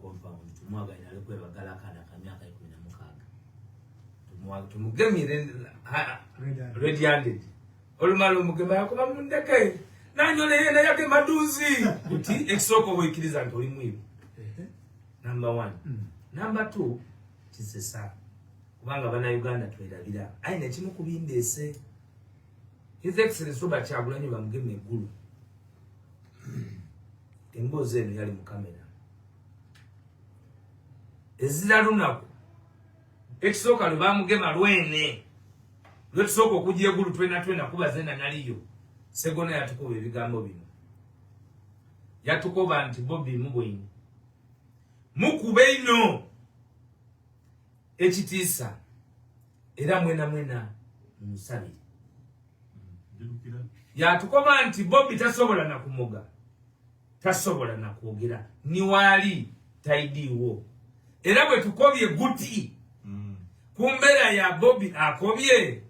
compound tumwagalira ali kwebagala akaana ka myaka ikumi na mukaaga tumugemire red handed olumala omugema yakuba mundeke nanyola yena yake maduzi kuti ekisooka obwekiriza nti oli mwibi number one mm. number two kisesa kubanga bana uganda twerabira aye nekimu kubindeese his excellence robert kyagulanyi bamugema eggulu emboozi eno yali mu kamera ezira lunaku ekisooka lwe bamugema lwene lwetusooka okujja egulu twena twena kuba zena naliyo segona yatukuba ebigambo bino yatukoba nti bobi mubwini mukube ino ekitiisa era mwena mwena musabire yatukoma nti bobi tasobola nakumoga tasobola nakwogera niwaali taidiwo era bwe tukobye guti mm. ku mbeera ya bobi akobye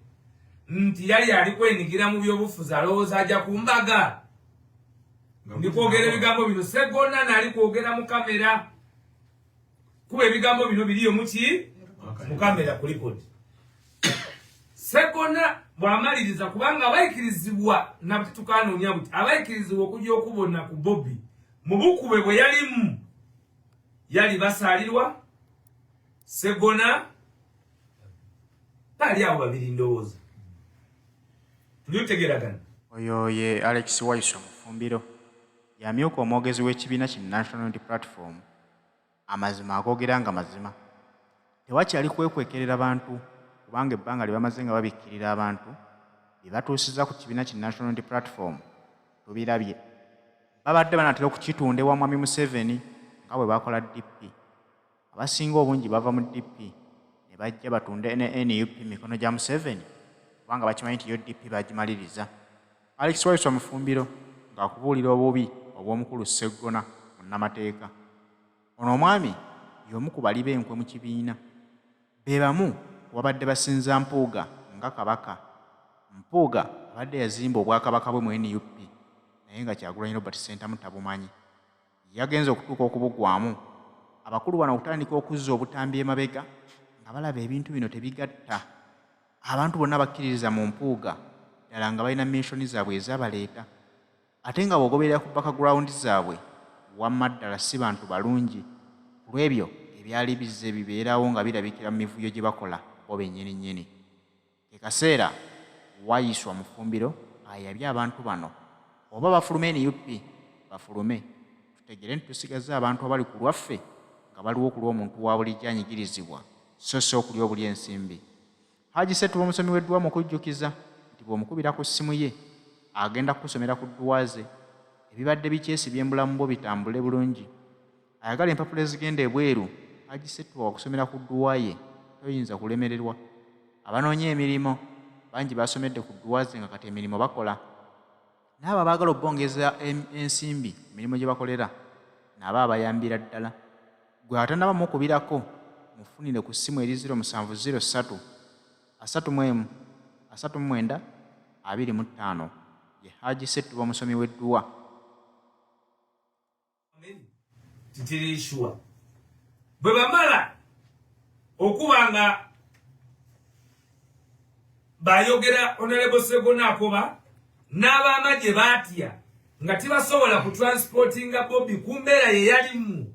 nti yali ali kwenigira mu byobufuzi alowooza aja ku mbaga ndi kwogera ebigambo bino segona naali kwogera mu kamera kuba ebigambo bino biriyo muki mukamera kulikodi segona bwamaliriza kubanga abayikirizibwa nabti tukanoonya buti abayikirizibwa okuja okubona ku bobi mubukube bwe yalimu yali basalirwa segona bali awo babiri ndowooza tuliutegeragana oyo ye alex waiso mufumbiro Y'amyuka omwogezi w'ekibiina ki National Unity Platform, Amazima agoogera nga mazima. Tewakyali kwekwekerera bantu kubanga ebbanga lye bamaze nga babikkirira abantu bye batuusizza ku kibiina ki National Unity Platform tubirabye. Babadde banaatera okukitunda ewa Mwami Museveni nga bwe baakola DP. abasinga obungi bava mu DP ne bajja batunde ne nup mikono gya Museveni kubanga bakimanyi nti UDP bagimaliriza. Alex Waiswa Mufumbiro ng'akubuulira obubi obw'omukulu Sseggona munnamateeka. Ono omwami y'omu ku bali b'enkwe mu kibiina. Be bamu ku babadde basinza Mpuuga nga Kabaka. Mpuuga abadde yazimba obwakabaka bwe mu nup naye nga Kyagulanyi Robert Ssentamu tabumanyi. yagenze okutuuka okubugwamu abakulu bano okutandika okuzza obutambi emabega nga balaba ebintu bino tebigatta abantu bonna bakkiririza mu mpuuga ddala nga balina minsoni zaabwe ezabaleeta ate nga bwogoberera ku background zaabwe wamma ddala si bantu balungi ku lw'ebyo ebyali bizze bibeerawo nga birabikira mu mivuyo gye bakola bo bennyini nnyini Ke kaseera Waiswa Mufumbiro ayabye abantu bano oba bafulume nup bafulume tutegere nti tusigazza abantu abali ku lwaffe nga baliwo ku lw'omuntu wa bulijjo anyigirizibwa so si okulya obulya ensimbi. Haji Setuba omusomi w'edduwa mu kujjukiza nti bw'omukubira ku ssimu ye agenda kukusomera ku dduwa ze ebibadde bikyesibye mu bulamu bwo bitambule bulungi. ayagala empapula ezigenda ebweru agisetwa okusomera ku dduwa ye toyinza kulemererwa abanoonya emirimu bangi basomedde ku dduwa ze nga kati emirimu bakola n'abo abaagala okubongeza ensimbi ku mirimu gye bakolera naabo abayambira ddala gwe atanaba mukubirako mufunire ku ssimu eri 0703 31 39 25 ye haji settuba omusomi w'edduwa titirishuwa bwe bamala okuba nga bayogera onalebo segona akoba n'abamagye batya nga tibasobola ku transportinga bobi ku mbeera ye yalimu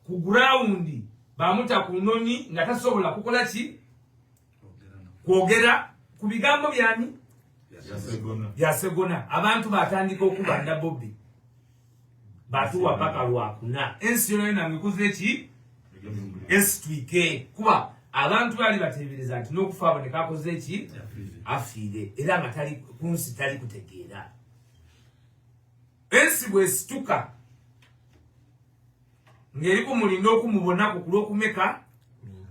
ku gurawundi bamuta ku noni nga tasobola kukola ki kwogera ku bigambo byani byasegona abantu batandika okuba nda bobi batuwa paka lwakuna ensi yona yona ngekuze ki esitwike kuba abantu bali batebereza nti nokufa aboneka akoze ki afiire era nga tali kunsi tali kutegeera ensi bwesituka ngeri kumulinda okumubonako ku lwokumeka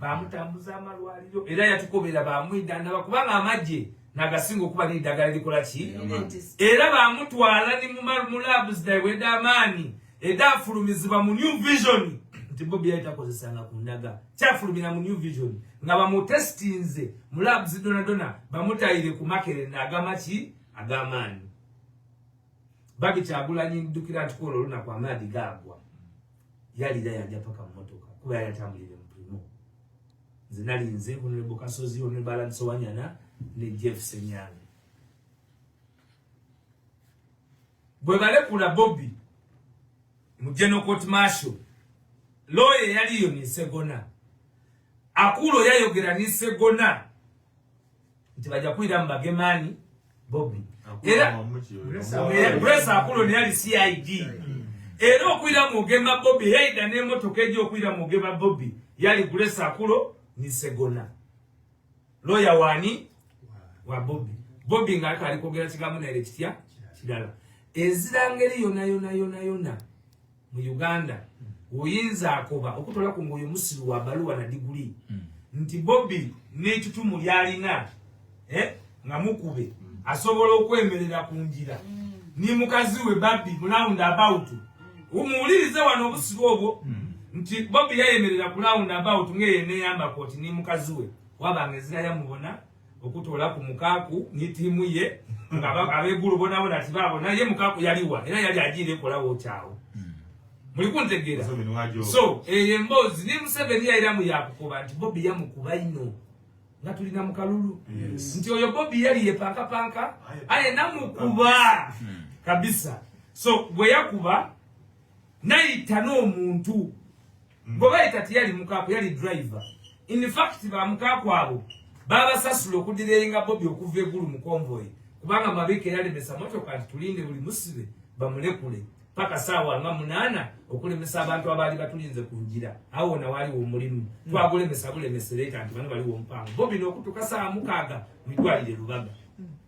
bamutambuza amalwaliro era yatukobera bamwidandaba kubanga amagye nagasinga okuba n'eddagala likola ki era bamutwala ni mu laabu zidaiweda amaanyi eda afulumizibwa mu new vision nti bobi yali takozesanga ku ndaga kyafulumira mu new vision nga bamutestinze mu laabu zidonadona bamutayire ku makerere naagama ki agamaanyi Baki kyagulanyi ndukira nti kwolwo olunaku amaadi gaagwa yalira yanja paka mu motoka kuba yali atambulire mu primo nze nali nze honorable kasozi honorable alan sowanyana ne jeff senyange bwe balekula bobi mu general court marshal looya eyaliyo nisegona akuulo yayogera nisegona nti bajja kuwulira mu bagemaani bobi era grace akulo naye ali cid era okwira mu gema bobi yaida n'emotoka egi okwira mu gema bobi yali grace akulo ni segona loya wani wa bobi bobi nga aka alikogera kigambo naere kitya kirala ezira ngeri yona yona yona yona mu uganda oyinza akoba okutwala ku ngaoyo musiru wa baluwa na diguli hmm. nti bobi n'etutumu lyalina eh, nga mukube hmm. asobola okwemerera ku njira hmm. ni mukazi we babi mulound about umuwulirize wano obusiru obwo nti bobi yayemerera ku lound about ng'eyo neyamba koti ni mukazi we wabanga ezira yamubona okutola ku mukaku ni timu ye abegulu bona bona tibabo naye mukaku yaliwa era yali ajire kola wo chao hmm. muli kuntegera so eye eh, mbozi ni museveni yaira mu yakukoba nti bobi yamukuba ino nga tuli na mukalulu nti oyo bobi yali ye panka panka aye namukuba hmm. kabisa so bwe yakuba nayita n'omuntu Gobaye kati yali mukaku yali driver. In fact ba mukaku abo baba sasula okudirenga Bobi okuva egulu mu convoy kubanga mabike yali mesa moto kati tulinde buli musibe bamulekule paka sawa nga munana okulemesa abantu abali batulinze kunjira awo na wali omulimu mm. twagule mesa bule mesereta nti bano bali wo mpango Bobi no kutuka saa mukaga mitwalire lubaga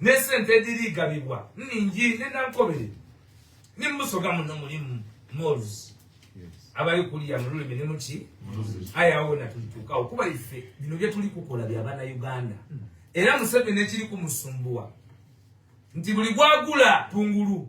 n'esente ediriigabibwa nningi ne nankobere ne musoga muno mulimu mols abali kuliya mu lulimi ne muki aye awo na tulituukawo kuba ife bino bye tuli kukola bya bana uganda hmm. era museveni ekiri kumusumbuwa nti buli gwagula tungulu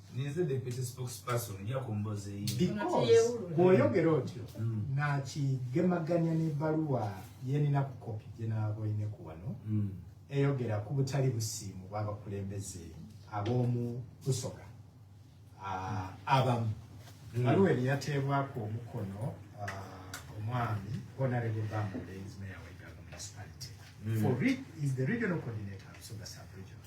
ninze deputy spokesperson nja kumboza eyi because bwoyogera otyo mm. nakigemaganya n'ebbaluwa yenina ku kopi gye naaboine ku wano mm. eyogera ku butali busiimu bw'abakulembeze ab'omu busoga ah, abamu mm. baluwa eri yateebwako omukono ah, omwami honorable bamulenzi mayor wa iganga municipality for is the regional coordinator of soga sub region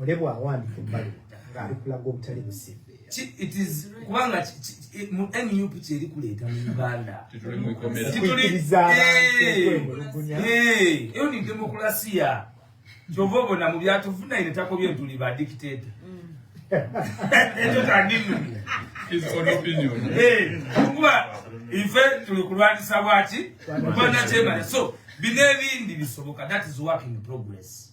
olebwa awandika ebbaluwa ng'ali kulaga obutali busiru kubanga mu nup kyeri kuleeta mu uganda eyo ni demokulasiya kyova obona mu byatufunaye netakobye ntuli ba dictato ekyo tandinuni kuba ife tuli kulwanyisa bwaki kubanakyemanya so bino ebindi bisoboka that is working progress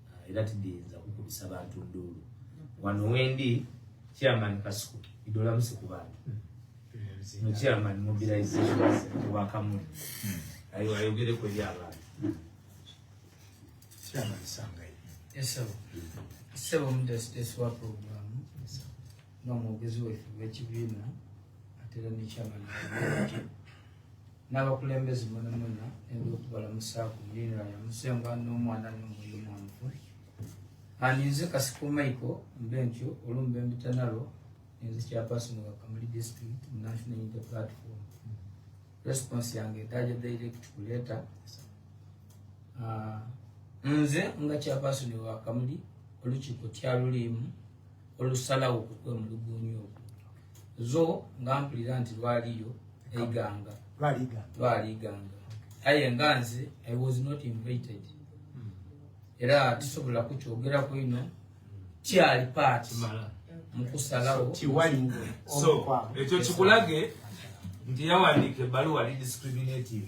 ah, era tidiyinza kukubisa bantu nduulu wano wendi chairman kasuku idolamusi ku bantu no chairman mobilization wakamuli hmm. ayo ayogere kweri abantu chairman sangaye esebo esebo mudesitesi wa programu nomwogezi wefe wekibiina atera ne chairman n'abakulembeze mwenamwena ebyokubalamusaako mulinira yamusengwa n'omwana n'omwoyo mwanvu aninze kasiko maiko mbe ntyo olumbe mbitanalo ninze chairperson wa kamuli district mu national unity platform response yange edaja direct kuleta ah, nze nga chairperson wa kamuli olukiiko kyaluliimu olusalawo kukwemulugunya okwo zo nga mpulira nti lwaliyo eiganga lwaliganga aye nga nze i was not invited hmm. era tisobola kukyogerako ino kyali paati mukusalawo ekyo kikulage nti yawandiika ebbaluwa lidiscriminative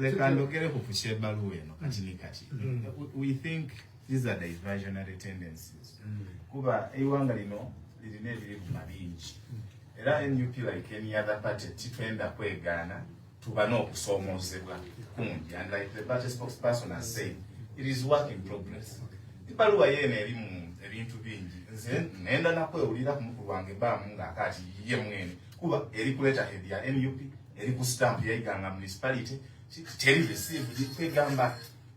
leka ndogere ku pusha ebaluwa eno kati ni kati mm. we think these are diversionary tendencies mm. kuba eiwanga lino lirina ebirivuma bingi mm. era nup like any other party titwenda kwegaana tuba n'okusoomoozebwa kungi and like the party spokesperson has said it is work in progress ebbaluwa yeeno eri mu ebintu bingi nze nenda nakwewulira ku mukulu wange baamu ng'akaati ye mwene kuba eri kuleeta hedi ya nup eri ku stamp yaiganga municipality teri receive kwegamba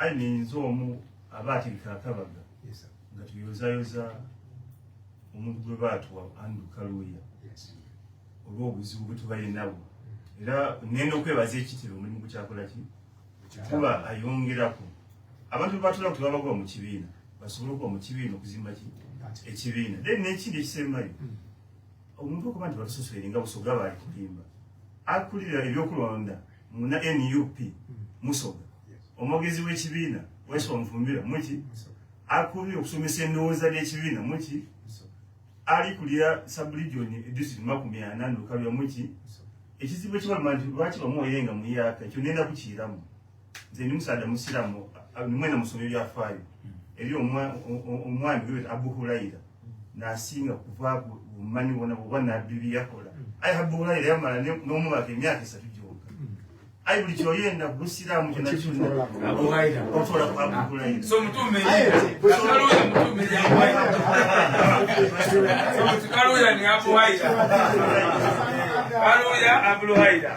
ayi ninze omu aba atirika akabaga nga tuyozayoza omuntu gwe baatuwa andu kaluuya olw'obuzibu bwe tubaye nabwo era nenda okwebaza ekitiro omulimu gukyakola ki kuba ayongerako abantu bebatula kuti vabakuva muchivina vasobola kuva muchivina kuzimba chi echivina then nechindi chisemai hmm. omuntu okuva nti vatusoswerenga busoga vari kulimba akulira ebyokulonda muna nup musoga omwogezi w'ekibiina waiso omufumbira muki akulira okusomesa endowooza ly'ekibiina muki ali kulira sabulijoni edisiti makumi ana ndukalira muki ekizibu ekibaluma nti lwaki bamuoyenga muyaka ekyo nenda kukiiramu nze ndi musaadha musiramu nimwena musoma ebyafaayo eri omwami gwe abu hulaira nasinga kuva bumanyi bona bwoba nabbi byeyakola aye abu hulaira yamala n'omwaka emyaka esatu gyoka aye buli kyoyenda busiramu kyonakyonnaotola ku abu hulaira Hallelujah, Abdul Haida.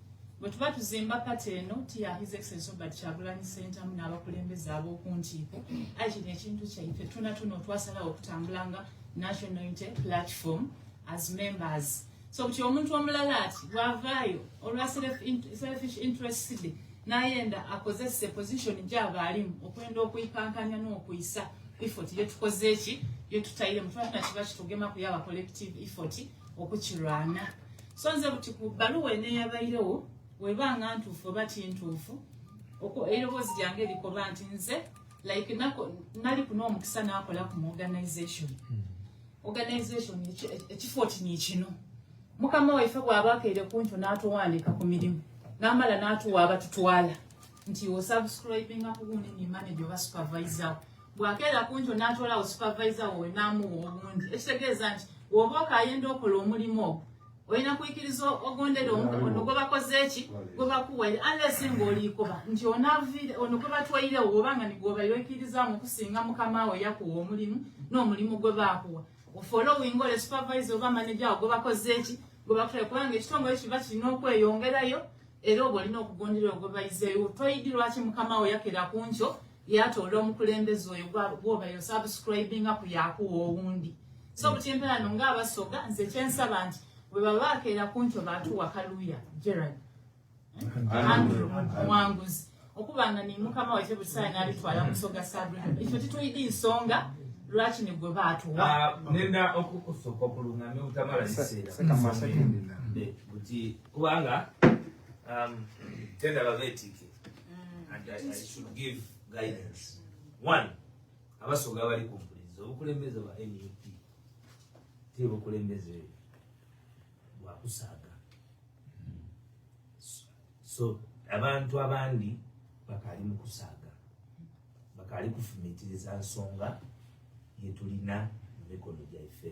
Bwe tuba tuzimba pati eno tiya His Excellency Robert Kyagulanyi Ssentamu n'abakulembeze ab'oku nkiiko, ayi kino ekintu kyaife tuna tuna otwasalawo okutambula nga National Unity Platform as members. So kutya omuntu omulala ati bwavaayo olwa selfish interest de n'ayenda akozese position gyaba alimu okwenda okuikankanya n'okuyisa effort ye tukoze ki ye tutayire mutwala kiba kitugema kuyawa collective effort okukirwana so nze buti ku bbaluwa eneeyabayirewo weba nga ntuufu oba tintuufu okwo eroboozi lyange likoba nti nze like nako nali kuna omukisa nakola ku organization hmm. organization ekifo kino kino mukama waife bwaba akeere kuntu natuwandika ku mirimu namala natuwa abatutwala nti osubscribinga kugundi nimane gyoba supervisawo bwakeera kunjo natwalawo supervisor wowe namuwa obundi ekitegeeza nti woba okayenda okola omulimu ogwo olina kuyikiriza ogondera omukono gwe bakoze eki gwe bakuwaire unless nga oliikoba nti onavire ono gwe batwairewo oba nga nigwobaire oyikirizaamu okusinga mukama wo yakuwa omulimu n'omulimu gwe baakuwa ofolowinga ole supervisor oba manaja wo gwe bakoze eki gwe bakutwaire kubanga ekitongole kiba kirina okweyongerayo era obwo olina okugondera ogwe bayizeewo toyidi lwaki mukama wo yakera ku nkyo yatoola omukulembeze oyo gwobayo subscribinga ku yakuwa owundi so mm. buti empera no ngaabasoga nze kyensaba nti bwebaba bakeera kunto batuwa kaluya gerald eh? andrew muwanguzi okuba nga nimukama waife buli saa nabitwala musoga sabrina ekyo tituyidi nsonga lwaki nigwe batuwa ah, nenda okukusoka okulungamya obutamala kiseera eh, kubanga um, tenda babeetiike mm. and I should give guidance one abasoga abali ku mpulizi obukulembeze bwa nup tiri bukulembeze bwakusaaga so abantu abandi bakaali mu kusaaga bakaali kufumitiriza nsonga yetulina mu mikono gyaife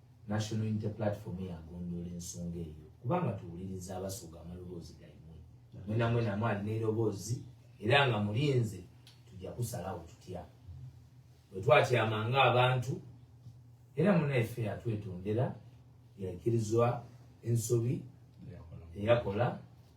National Unity Platform yagondoola ensonga eyo kubanga tuwuliriza abasoga amaloboozi gaimwe mwena mwena mu alina eroboozi era nga mulinze tujja kusalawo tutya bwe twatyama nga abantu era munaife yatwetondera yakirizwa ensobi eyakola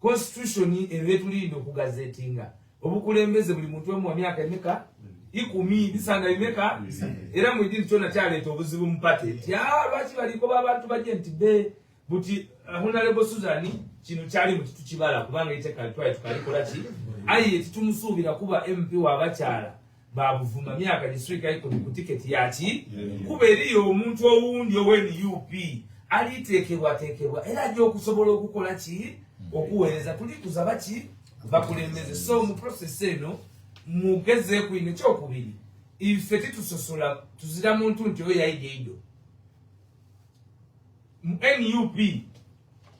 constitution eno yetulinda okugazetinga obukulembeze buli muntu emu wa myaka emeka ikumi bisanga bimeka era mu idini kyona kyaleeta obuzibu mu pate nti ah, lwaki balikoba abantu baje nti be buti uh, honalebo suzani kino kyali mu kitu kibala kubanga ite kalitwaye tukalikola ki ayi yetitumusuubira kuba mp wabakyala babuvuma myaka gisirika ikumi ku tiketi yaki kuba eriyo omuntu owundi owenup aliteekebwateekebwa era ajja okusobola okukola ki okuweereza tuli kuzaba ki bakulembeze so mu process eno mugeze kwino ekyokubiri ife titusosola tuzira muntu nti oyo yayiga eido mu nup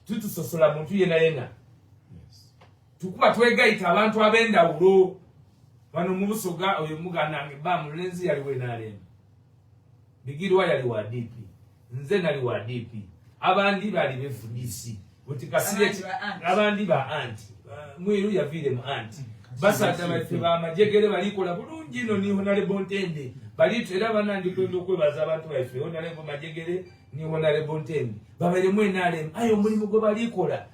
titusosola muntu yena yena tukuba twegayita abantu ab'endawulo bano mubusoga oyo muganange ba mulenzi yali wenalem bigirwa yali wa dp nze nali wa dp abandi bali befudc buti kasire abandi ba anti mwiru yaviire mu anti basajja baffe bamajegere balikola bulungi ino ni honalebo ntende balitu era banandikwenda okwebaza abantu baffe honalebo majegere ni honalebo ntende babaire mwenalem ayo omulimu gwe balikola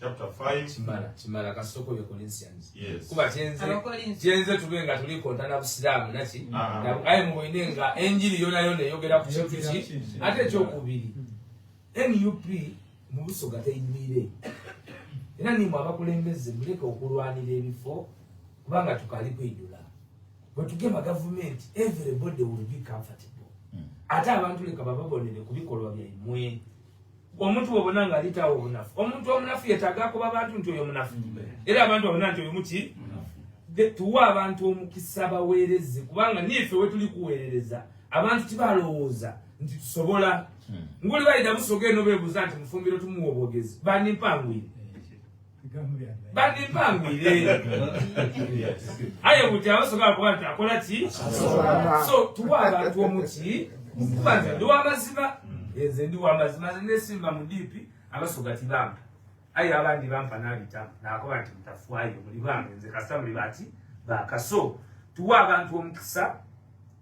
chapter 5 kimala kimala kasoko yo corinthians yes kuba chenze chenze tubenga tuli konta na busilamu nati ah, ah, ah. na ayi muwine nga enjili yona yona yogera ku chintu chi ate cho kubiri nup mubuso gata imire ina ni mwaba kulembeze muleke okulwanira ebifo kubanga tukali kwidula bwe tugema government everybody will be comfortable hmm. ate abantu leka bababonere kubikolwa bya imwe omuntu wobona nga alitawo obunafu omuntu omunafu yetaga akuba abantu nti oyo munafu era abantu abona nti oyo muki tuwa abantu omukisa baweereze kubanga niife wetuli kuweerereza abantu tibalowooza nti tusobola hmm. nguli bayida musoga eno bebuuza nti mufumbiro tumuwa obwogezi bandimpanguire bandipangwire aye kuti abasobola kuba nti akola ki so tuwa abantu omuki kuba nze ndi wamazima nze ndi wamazima nze nesimba mu dipi abasoga tibampa aye abandi bampa nabita nakoba nti mutafwayo muli bange nze kasita muli bati bakaso tuwa abantu omukisa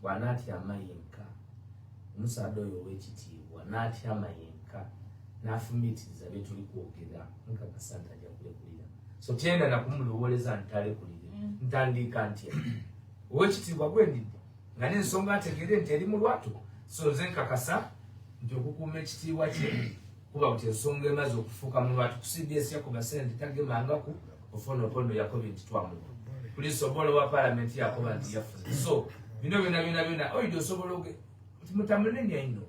bw'anaatyama yenka omusaada oyo ow'ekitiibwa n'atyama yenka n'afumiitiriza bye tuli kwogera nkakasa nti ajja kulekulira so tyenda nakumulowooleza nti talekulire mm. ntandiika ntya ow'ekitiibwa gwendidde nga n'ensonga ategere nti eri mu lwatu so nze nkakasa nti okukuuma ekitiibwa kye kuba nti ensonga emaze okufuuka mu lwatu kusibyesya ku basente tagemangaku ofono opondo yakobi nti twamuwa poliisi obola owa palamenti yakoba nti yafuze so bino byona byona byona oyidi osobola oge nti mutamunenya ino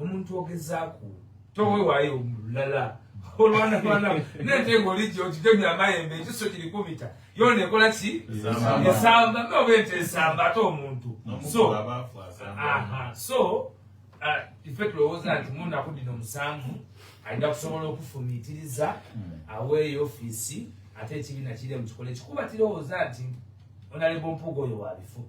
omuntu ogezaku towewayo lala olwanalwana nentenga oliji okitemya amayembe ekiso kirikubita yona ekola ki esamba noba ente esamba ate omuntu so so Ah, ife tulowooza nti mu nnaku dino musanvu alina kusobola okufumiitiriza hmm. aweeyo ofiisi ate ekibiina kiri mu kikola ekikuba kirowooza nti onalebo mpuuga oyo wa bifo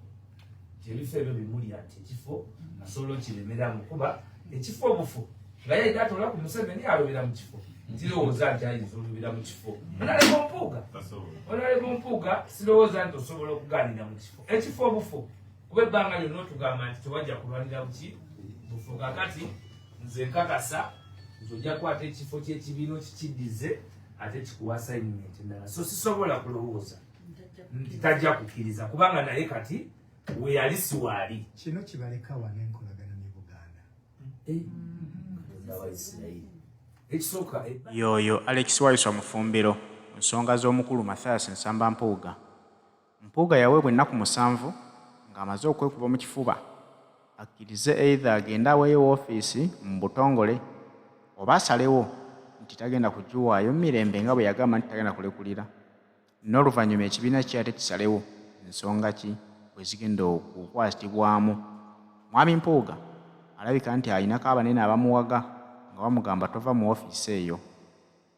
nti ebifo ebyo bimulya nti ekifo asobola okiremera mu kuba ekifo obufu nga yayina atola ku museveni alobera mu kifo ntirowooza nti ayinza olobera mu kifo hmm. onalebo mpuuga onalebo mpuuga sirowooza nti osobola okugaanira mu kifo ekifo obufu kuba ebbanga lyonna otugamba nti tewajja kulwanira buki bufu kakati nze nkakasa nti ojja kukwata ekifo kyekibiina okikiddize ate kikuwa assignment endala so sisobola kulowooza nti tajja kukkiriza kubanga naye kati weyali siwaali kino kibaleka wano enkolagana ne buganda eh? ekisooka eh? yoyo alex wayiswa mufumbiro nsonga z'omukulu mathias nsamba mpuuga Mpuuga yaweebwa ennaku musanvu ng'amaze okwekuba mu kifuba akkirize either agende aweeyo woofiisi mu butongole oba asalewo nti tagenda kugiwaayo mirembe nga bwe yagamba nti tagenda kulekulira n'oluvannyuma ekibiina kye ate kisalewo nsonga ki bwe zigenda okukwatibwamu. Mwami Mpuuga alabika nti alinako abanene abamuwaga nga bamugamba tova mu woofiisi eyo.